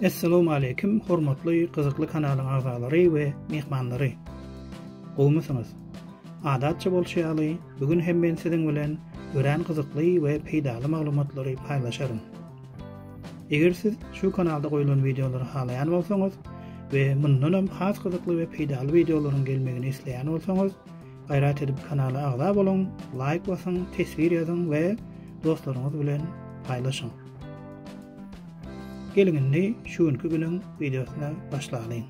Essalowmaleýkim hormatly gyzykly kanalyň agzalary we myhmanlary. Gowumysyňyz? Adatça bolşy ýaly, bu gün hem men siziň bilen örän gyzykly we peýdaly maglumatlary paýlaşaryn. Eger siz şu kanalda goýlan wideolary halaýan bolsaňyz we mundan hem has gyzykly we peýdaly wideolaryň gelmegini isleýän bolsaňyz, Gaýrat edip kanala agza boluň, laýk basyň, teswir ýazyň we dostlaryňyz bilen paýlaşyň. Geliň indi şu günki günüň wideosyna başlalyň.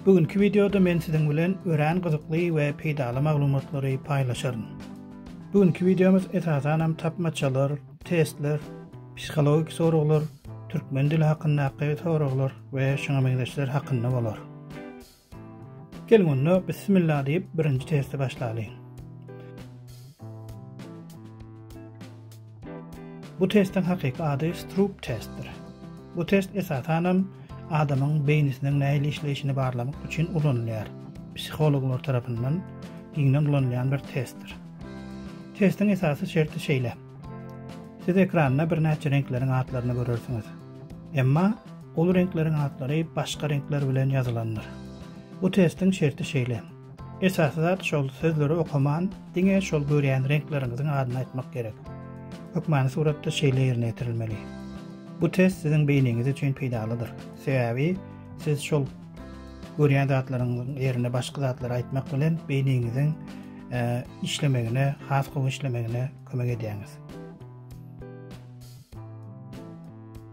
Bu günki wideoda men siziň bilen örän gyzykly we peýdaly maglumatlary paýlaşaryn. Bu günki wideomyz esasan hem tapmaçalar, testler, psihologik soraglar, türkmen dili hakyndaky soraglar we şuňa meňzeşler hakynda bolar. Geliň onda bismillah diýip birinji testi başlalyň. Bu testiň hakyky ady Stroop testdir. Bu test esasanam adamyň beýnisiniň nähili işleýşini barlamak üçin ulanylýar. Psihologlar tarapyndan giňden ulanylýan bir testdir. Testiň esasy şerti şeýle. Siz ekranda birnäçe reňkleriň atlaryny görersiňiz. Emma Ol reňkleriň atlary başga reňkler bilen ýazylandyr. Bu testiň şerti şeýle. Esasy zat şol sözleri okaman, diňe şol görýän reňkleriňiziň adyny aýtmak gerek. Hökmany suratda şeýle ýerine ýetirilmeli. Bu test siziň beýniňiz üçin peýdalydyr. Sebäbi siz şol görýän zatlaryňyzyň ýerine başga zatlary aýtmak bilen beýniňiziň e, işlemegine, has gowy işlemegine kömek edýäňiz.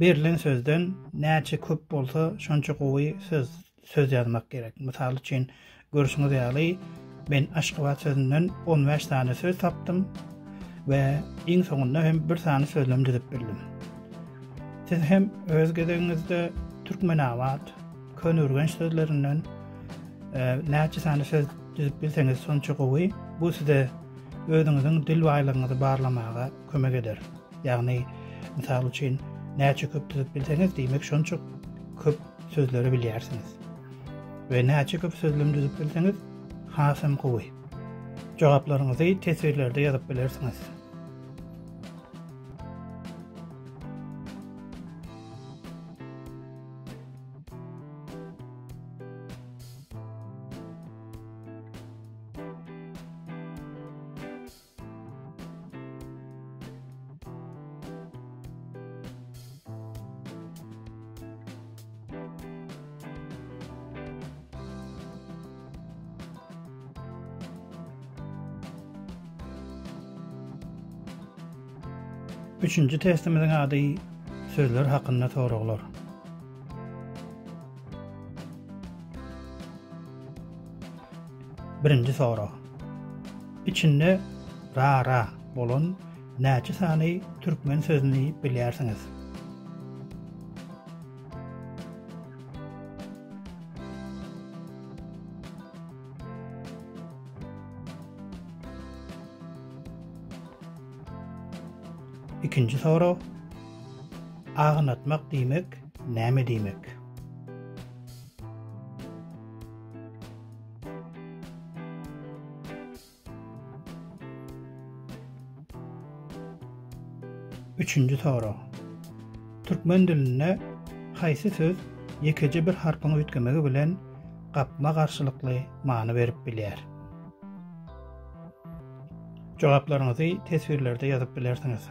Berlen sözden näçe köp bolsa, şonça gowy söz söz ýazmak gerek. Mysal üçin, görşüňiz ýaly, men Aşgabat sözünden on bäş sany söz tapdym we iň soňunda hem bir sany sözlem düzüp bildim. Siz hem öz gezegiňizde Türkmenabat, Köneürgenç sözlerinden e, näçe sany söz düzüp bilseňiz, şonça gowy. Bu size özüňiziň dil baýlygyňyzy barlamaga kömek eder. Ýagny, mysal üçin, näçe köp düzüp bilseňiz, diýmek şonça köp sözleri bilýärsiňiz. We näçe köp sözlem düzüp bilseňiz, hasam gowy. Jogaplaryňyzy teswirlerde ýazyp bilersiňiz. Üçünji testimiziň ady sözler hakynda soraglar. Birinji sorag. Içinde ra-ra bolan näçe sany türkmen sözüni bilýärsiňiz? Ikinji soru. Agnatmak diýmek näme diýmek? Üçünji sorag. Türkmen dilinde haýsy söz ýekeje bir harpyň üýtgemegi bilen gapma-garşylykly many berip bilýär? Jogaplaryňyzy teswirlerde ýazyp bilersiňiz.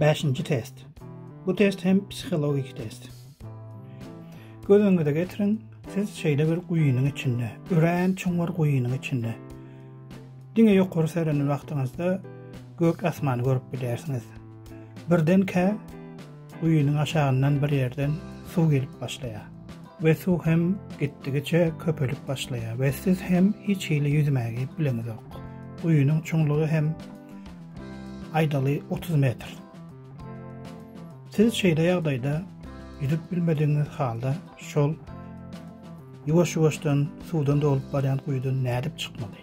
Bäşinji test. Bu test hem psihologik test. Göz öňüňize getiriň, siz şeýle bir guýynyň içinde, örän çuňňur guýynyň içinde. Diňe ýokary serenen wagtyňyzda gök asmany görüp bilýärsiňiz. Birdenkä guýynyň aşagyndan bir ýerden suw gelip başlaýar we suw hem gitdigiçe köpelip başlaýar we siz hem hiç hili ýüzmägi bileňizok. Guýynyň çuňlugy hem aýdaly otuz metr. Siz şeýle ýagdaýda ýüzüp bilmedigiňiz halda şol ýuwaş-ýuwaşdan suwdan dolup barýan guýydan nädip çykmaly?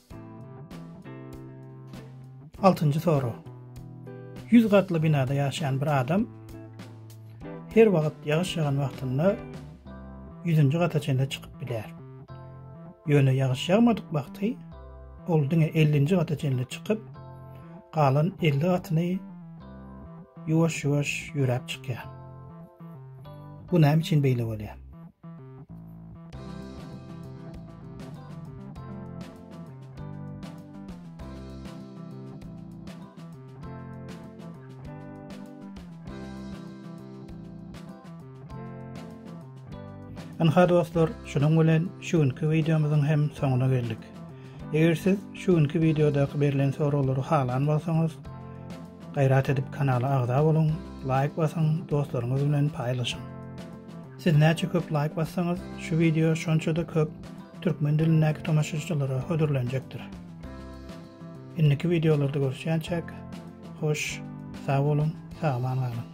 Altynjy sorag. Ýüz gatly binada ýaşaýan bir adam her wagt ýagyş ýagan wagtynda ýüzünji gata çenli çykyp bilýär. Ýöne ýagyş ýagmadyk wagty ol diňe ellinji gata çenli çykyp, galan elli gatyny ýuwaş-ýuwaş ýöräp çykýar. Bu näme üçin beýle bolýar? Ynha dostlar, şunuň bilen şu günki wideomyzyň hem soňuna geldik. Eger siz şu günki wideodaky berlen soraglary halan bolsaňyz, gaýrat edip kanala agza boluň, laýk basyň, dostlaryňyz bilen paýlaşyň. Siz näçe köp laýk bassaňyz, şu wideo şonça-da köp türkmen dilindäki tomaşaçylara hödürlenjekdir. Indiki wideolarda görüşýänçäk, hoş, sag boluň, sag-aman galyň!